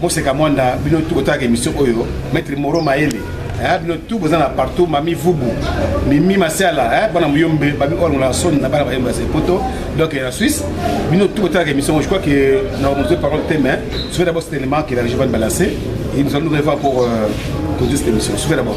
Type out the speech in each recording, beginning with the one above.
Moseka Mwanda, bino tout botalaka émission oyo, Maître Moro Maele, eh, bino tout boza na partout, Mami Vubu, Mimi Masiala, eh, bana Muyombe, Babi Olongola Son, na bana Bayemba se poto, donc na Suisse, bino tout botalaka émission oyo, je crois que na mozo parole te mais, soyez d'abord cet élément que la région va nous balancer et nous allons nous revoir pour euh, conduire cette émission. Soyez d'abord.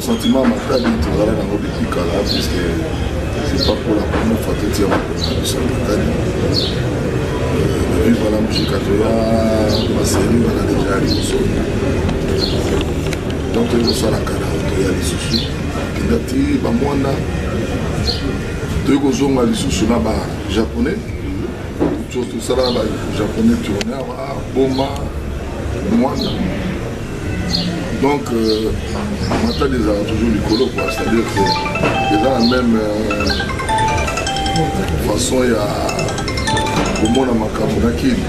sentiment makali tozala nango depuis kala puisque c'est pas pour la première fois totia makolo na biso ya makali depuis wana mujika toya maseri wana deja ya liboso donc toyei kosala kala toya lisusu kenda ti bamwana toyei kozonga lisusu na bajaponais tosala na bajaponais tourner boma mwana donc euh, matadi ezalaka toujours likolo quoi c'est à dire que eza na même euh, façon ya komona makambo na kini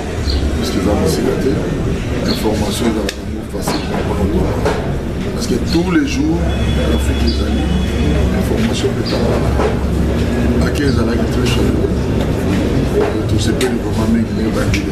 parce que eza mosika te information ezalaka yango facilement mpona parce que tous les jours l'afrique ezali information etalana ake ezalaki très chaleureux tosepeli vraiment mingi mingi bandeli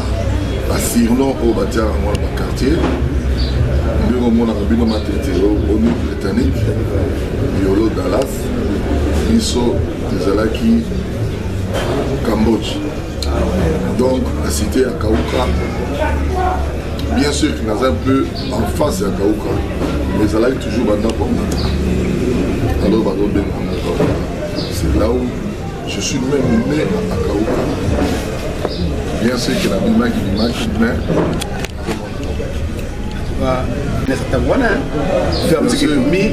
basirlon oyo batiaka yango na bakartier ndenge omonaka bino matete au new britannique yolo dallas biso ezalaki cambodge donc na cité ya kauka bien sûr que naza un peu en face ya kauka mais ezalaki toujours bandako ya mata alors bazobenga c'est là où Je suis même né à Makao. Bien sûr que la Bima qui Bima qui mais nasatanguana mi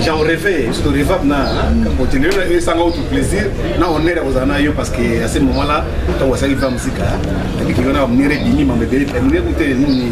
j'en rêvais surtout revable na continuer na esanga autre plaisir na honneur ya kozala na yo parce que à ce moment là ntango asalaki va mosika nabiki yo na bamonere ebimi mambo ebele ebele kute nini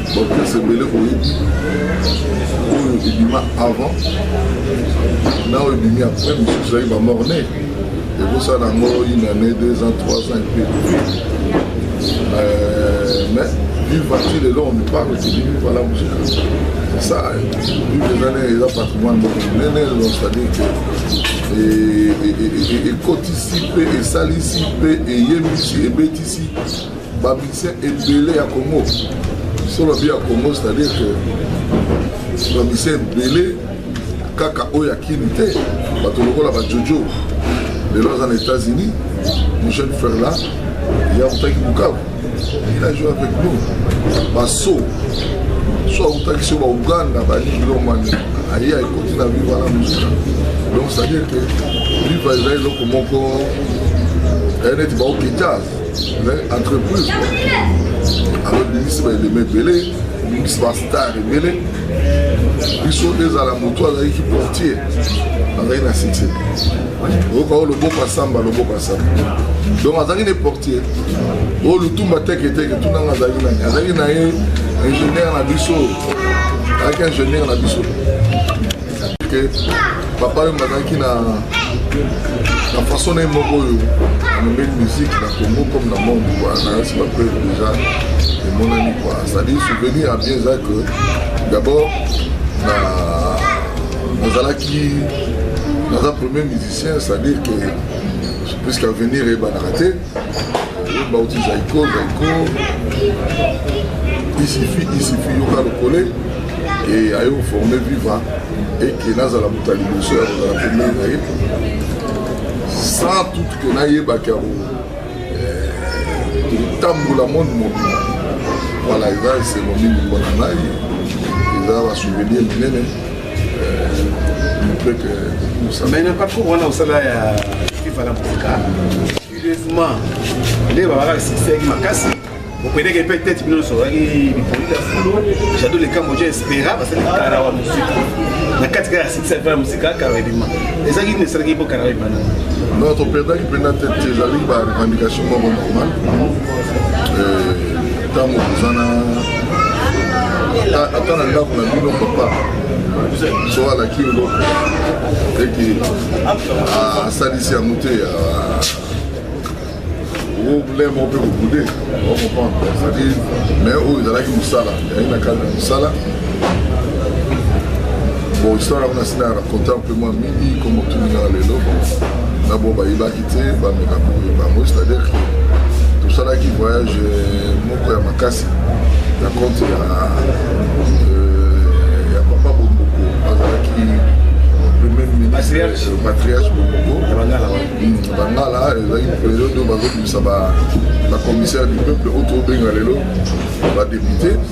baprese ebele boyebi oyo ebima avant na oyo ebimi après mosusu ezali bamorne ekosala yango une année deux ans trois ans epe euh, mais vivati lelo on parle tidi vivala musika sa vive ezali eza patrimoine moko monene lelo c'est-à-dire que ekotisi mpe esalisi mpe eyebisi ebetisi ba musicien ebele ya congo so babi ya congo c'est à dire que ba musicien ebele kaka oyo ya kini te bato lokola bajojo lelo aza na états-unis michel ferla ye autaki bukavu il a joué avec nous baso so autaki so bauganda balilomani aye aekoti na viva na mosika donc c'est-à-dire que viva eza eloko moko eh, neti baokita mais entreprise alors bimisi baelema ebele bimisi bastar ebele biso ezala motu azalaki portier azalaki na site oyoka oyo loboko asamba loboko asamba donc azalaki ne portier oyo lutumba teketeke tunanga azalaki nani azalaki na ye ingénieur na biso azalaki ingénieur na biso que papa oyo bazalaki na na façon na ye moko oyo amemeli musique na congo comme na monde kua nayasi bape déjà emonani kua c'est-à-dire souvenir ya bien eza que d'abord nazalaki naza premier musicien c'est-à-dire que puisque avenir eyebanaka te bauti zaiko zaiko isifi isifi yoka lokole e aye koforme viva eke nazala moto ya liboso ya kozala pembeni na ye sans toute ke nayebaki yango kotambola eh, monde mobima wana eza esengo mingi mpona ngai eza basouvenir minene mais na parcours wana osala ya fifa na mboka curieusement nde babaka succès makasi bokendeke mpe tete bino nyonso ozalaki bipoli ya fulu jado le cambodge espera basali kara wa mosika na kati kaka ya six alfa ya mosika kara ebima ezalaki nini esalaki mpo kara ebima na non toperdaki mpenza tete ezali ba revendication moko normal ntango oza na ata na ndako na bino papa so alaki ngo ete asalisi ya moto ya oblème moko mpe kobude okomprendre ezali mais oyo ezalaki mosala ezalaki na kati ya mosala bon histoire yango nasi na raconta mpe mwa mingi komotuminaka lelo na bo bayibaki te bameka boye bango c'est-à-dire que tosalaki voyage euh, moko ya makasi na compte ya euh, ya papa bomboko azalaki premier ministre patriarche euh, bomboko hmm, bangala ezalaki periode oyo bazobimisa bacommissaire du peuple oyo tobenga lelo badepute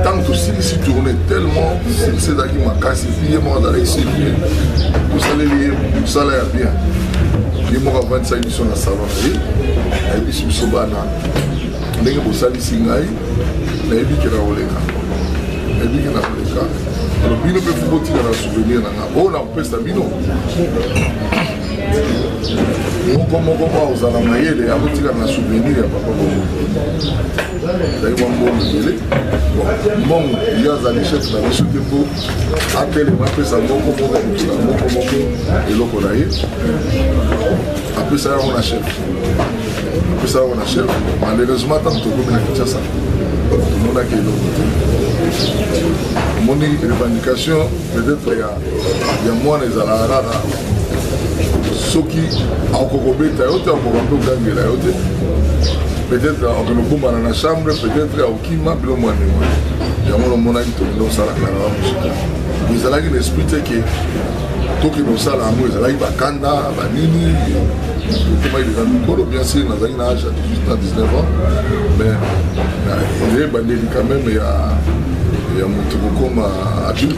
ntango tosilisi tourne tellement silisi ezalaki makasi epuis ye moko azalaki sivie tosaleli ye mosala ya bien ye moko avandisaki biso na salon na ye ayebisi biso bana ndenge bosalisi ngai nayebi ke na koleka nayebi ke na koleka alo bino mpe fobotika na souvenir na ngai oyo nakopesa bino moko moko mwa ozala mayele akotika na souvenir ya papa bongo ezali mwa mbongo ebele mbongo yo azali chef na biso te mpo atelema apesa moko moko moto na moko moko eloko na ye apesa yango na chef apesa yango na chef malheureusement ntango tokomi na kinshasa tomonaki eloko te omoni revendication peut-être ya ya mwana ezalaka kaka soki akoki kobeta yo te akoka mpe kogangela yo te peut-être akende kobombana na chambre peut-être akokima bilo mwa ndenge yango namonaki tokende kosalaka na musika ezalaki na esprit te ke tokende kosala yango ezalaki bakanda banini okomaki deja mikolo bien sûr nazalaki na age ya 18 na 19 ans mais eyebandeli quand même ya ya moto kokoma adulte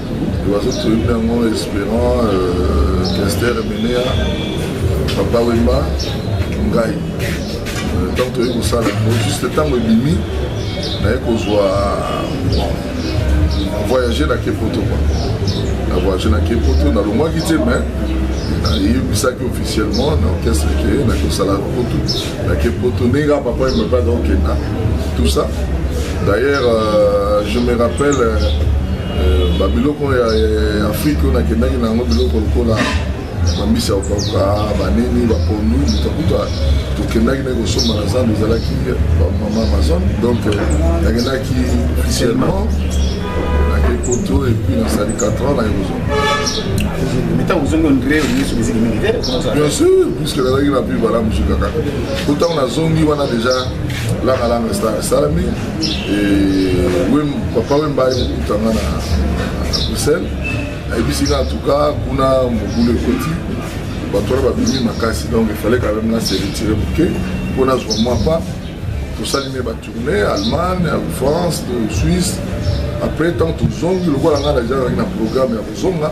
Oiseau toyebi yango Esperant, euh, Kester, Menea, Papa Wemba, ngai ntango euh, toyei kosala yango juste ntango ebimi naye kozwa voyage na kepoto kwa na voyage na kepoto nalongwaki te mais nayebisaki officiellement na orchestre ke nakosala poto na kepoto ndenge kaka papa ye mabaka okenda tout ça d'ailleurs euh, je me rappelle euh, Euh, ba biloko ya Afrique oyo nakendaki na yango biloko lokola bambisi ya kokauka banini bapondu mutakuta tokendaki na kosomba na zando ezalaki bamama amazon donc euh, nakendaki officiellement nake poto epuis nasali 4 ans naye kozonga bien sûr puisque nazalaki na pi bala mosika kaka otango nazongi wana deja langalanga esalami papa wemba aye kokuta nga na bruxelles ayebisi nga antuka kuna mobulu ekoti bato wana babimi makasi donc efale quand même nase retire moke mpo nazwa mwa pa tosali me batourne allemagne france suisse après ntango tozongi lokola ngai naja nazalaki na programme ya kozonga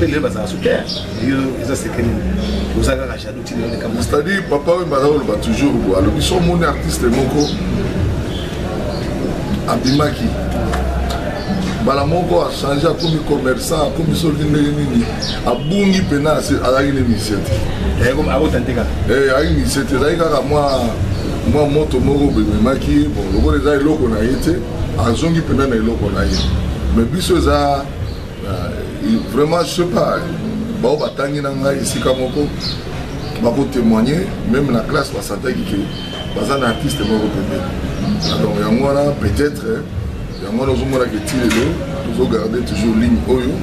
Pele bazala super. Yo eza secret nini? Oza kaka jaloux ti nini kama. C'est-à-dire papa oyo bana oloba toujours bo alobi so moni artiste moko abimaki mbala moko achange akomi commerçant akomi soki ndenge nini abungi mpena azalaki na émission te ayaki mise te ezalaki kaka mwa mwa moto moko bememaki bon lokola eza eloko na ye te azongi mpena na eloko na ye mais biso eza Vraiment, je sais pas, bao batangi na ngai esika moko bako témoigner même na classe basantaki ke baza na artiste moko pembeni donc yango wana peut-être yango wana ozomonaka eti lelo tozogarde toujours ligne oyo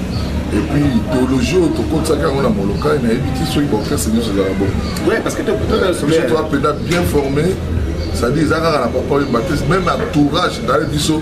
epuis idéologie oyo tokotisaki yango na molokai nayebi ti soki baorchestre nyonso ezala bongo toapeda bien formé c'est-à-dire eza kaka na papa oyo batiste même entourage naye biso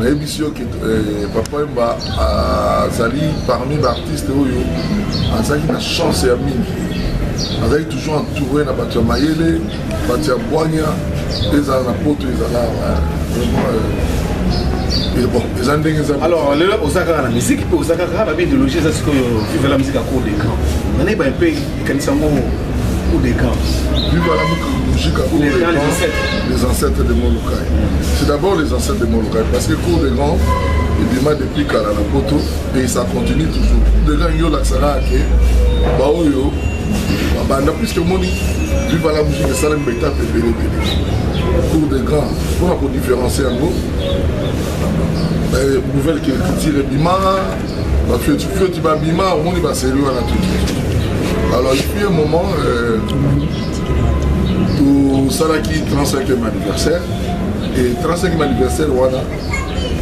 nayebisi yo ke eh, papa wemba azali ah, parmi baartiste oyo azalaki na chance ya mingi azalaki toujours entouré na bato ya mayele bato ya bwanya mpe ezala na poto ezala eh, vraiment eh, bon eza ndenge eza alors lelo oza kaka na miziki mpe oza kaka na bideologie eza sikoyo vivela miziki ya cour de camp nanayeba mpe Kanisa ngo ou des camps. Viva la musique ou des camps, les ancêtres de Molokai. C'est d'abord les ancêtres de Molokai parce que cours des grands ebima depuis kala na poto et ça continue toujours cours des grands yo lakisaka ke baoyo babanda puisque omoni viva la musique esalemi baetape ebele ebele cours des grands mpona kodifferencie yango nouvelle culture ebima Ba fioti fioti ba bima omoni ba serie wana tout. Alors il fut un moment euh, tosalaki 35e anniversaire et 35e anniversaire wana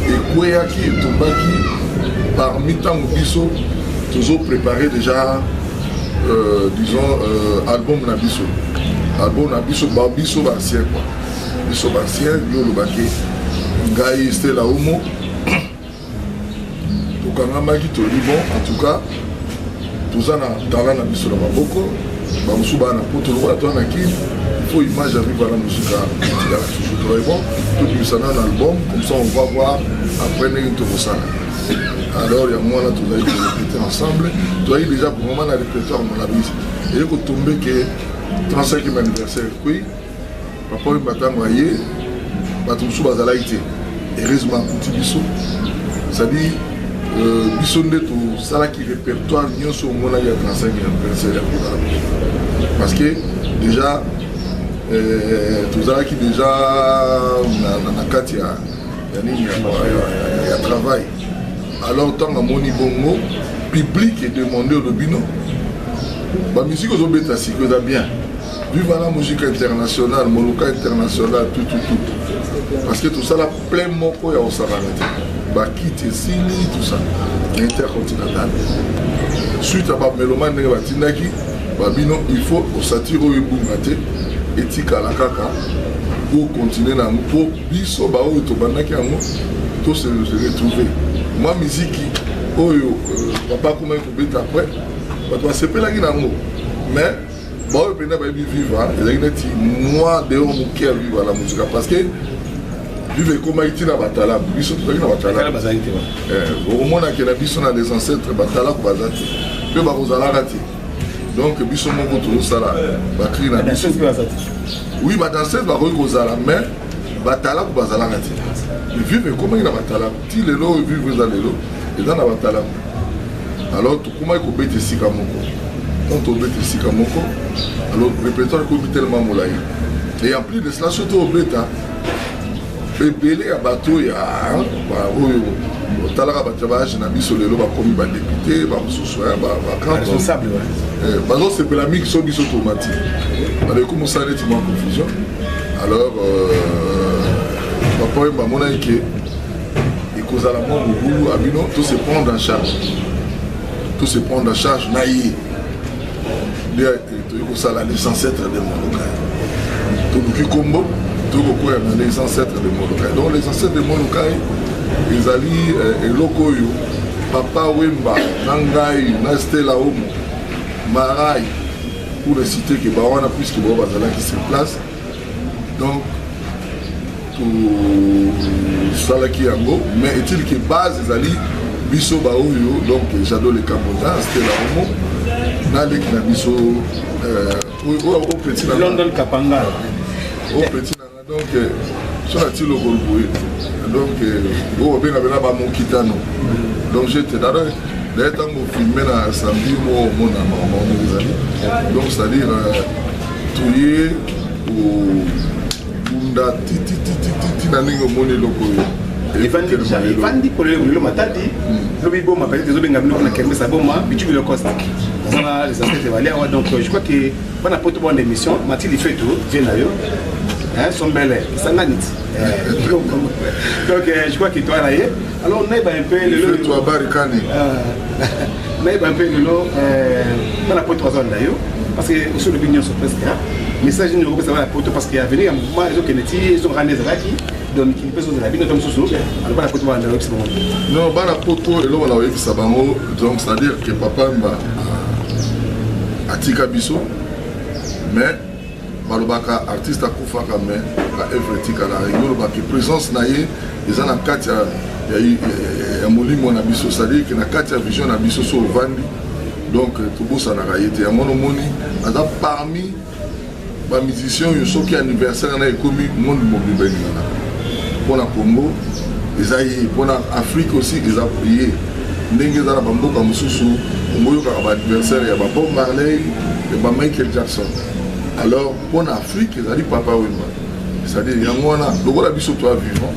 ekweyaki etombaki parmi ntango biso tozo préparer déjà euh, disons euh, album na biso album na biso ba biso basien quoi biso basien yo olobaki ngai stela omo tokangamaki toli bon en tout cas toza na tala na biso na maboko bamosusu baa na poto lokola toa na kini faut image avec voilà musica etikala toujours torai bon tobimisa nano album comme ça on va voir après ndenge tokosala alors yango wana tozali korepete ensemble toyaki déjà vraiment na répertoire molabisi eye kotombe ke 35e anniversaire ekui Papa Wemba ntango aye bato mosusu bazalaki te heureusement akuti biso cestadire euh, biso nde tosalaki répertoire nyonso omonaki ya 35 anniversaire ya kotala biso parce que déjà euh, tozalaki déjà na kati ya nini ya travail alors ntango amoni bongo public edemande olobino bamusike ozobeta siko eza bien Viva la musique internationale, Moluka internationale, tout, tout, tout. Parce que tout ça, la plein moko ya Osabanati. Bakiti, Sini, tout ça. Intercontinental. Suite à Babelomane, ndenge batindaki, babino, il faut osatire oyo ebunga te, etikala kaka, pour continuer na yango, po biso baoyo tobandaki yango, to se retrouver. Mwa miziki oyo euh, papa akomaki kobeta après, bato basepelaki na yango, mais baoyo mpenza bayebi viva ezalaki neti mwa deo moke ya viva la mosika parce que viva ekomaki ntina batalaku biso tozalaki na batalaku eh, okomonake na biso na les ancêtres batalaku baza te mpe bakozalaka te donc biso moko tozosala bakri na biso oui badanseuse bakoki kozala mais batalaku bazalaka te vive ekomaki na batalaku ti lelo oyo vivo eza lelo eza na batalamu alors tokomaki kobeta esika moko donc tobeta esika moko alors répertoire ekomi tellement molai et en plus de cela soki tobeta ebele ya bato oyo ya oyo otalaka bato ya baage na biso lelo bakomi badepute bamosusu bazosepela mingi so biso tomati baleki mosala neti mwa confusion alors euh, papa oyo bamonaki ke ekozala mwa mobulu ya bino to se prendre en charge to se prendre en charge na ye nde toyei kosala les ancêtres de molokai toluki nkombo toyei kokwea na les ancêtres de molokai donc les ancêtres de molokai ezali eh, eloko oyo papa wemba na ngai na stela omo marai pour ne citer que bawana puisque bao bazalaki sur place donc tosalaki yango mais est-il que base ezali biso baoyo donc jado le camboda stela omo na leki na biso oyo opeti na london kapanga opeti na nga donc euh, so na ti lokolo boye donc euh, oyo obenga bena bamokitano donc jete dada daye ntango filme na samedi moko omona makambo yango ezali donc c'est-à-dire euh, toye kobunda tititititi na ndenge omoni eloko oyo efandi polele bolelo matadi hmm. lobi boma peut-être ezobenga biloko na kermes ya boma bitu bilo coste azala les aspects evalia awa donc je crois que bana poto bwana émission mati lifeto vie na yo sombele esangani ti donc je crois que toi na ye Alors naiba un peu le fait toi barikani. Euh, naiba un peu le lot euh bana pote wazanda yo parce que sur le bignon sur presque hein. Message ni ko pesa bana pote parce que avenir ya mouvement ezo kende ti ezo rane ezalaki donc il peut se la bino tam susu alors bana pote wazanda yo pesa Non bana pote eloko na oyebisa bango donc c'est à dire que papa mba atika biso mais balobaka artiste akufaka mais ba œuvre etikala yo loba ke présence na ye eza na kati ya, ya, ya, ya molimo na biso c'est-à-dire ke na kati ya vision na biso so ovandi donc euh, tobosanaka ye te yango nomoni aza parmi bamusicien oyo soki anniversaire na ekomi monde mobimba elingana mpo na congo eza ye mpo na afrique aussi eza ye ndenge eza na bamboka mosusu omoyokaka baadversaire ya babob marley ya bamichael jackson alors mpo na afrique ezali papa wemba c'est-à-dire yango wana lokola biso toa vivant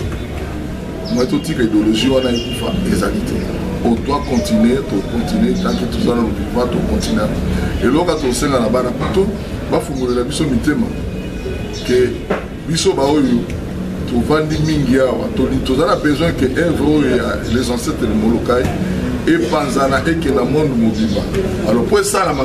moi totika idéologie wana ekufa ezali te otoa continue tocontinue tanke toza na lobiva tocontinue eloko tosenga na bana poto bafungolela biso mitema ke biso baoyo tovandi mingi awa toza na besoin ke evre oyo ya les ancêtres molokai epanzana ekenda monde mobimba alors mpo esalama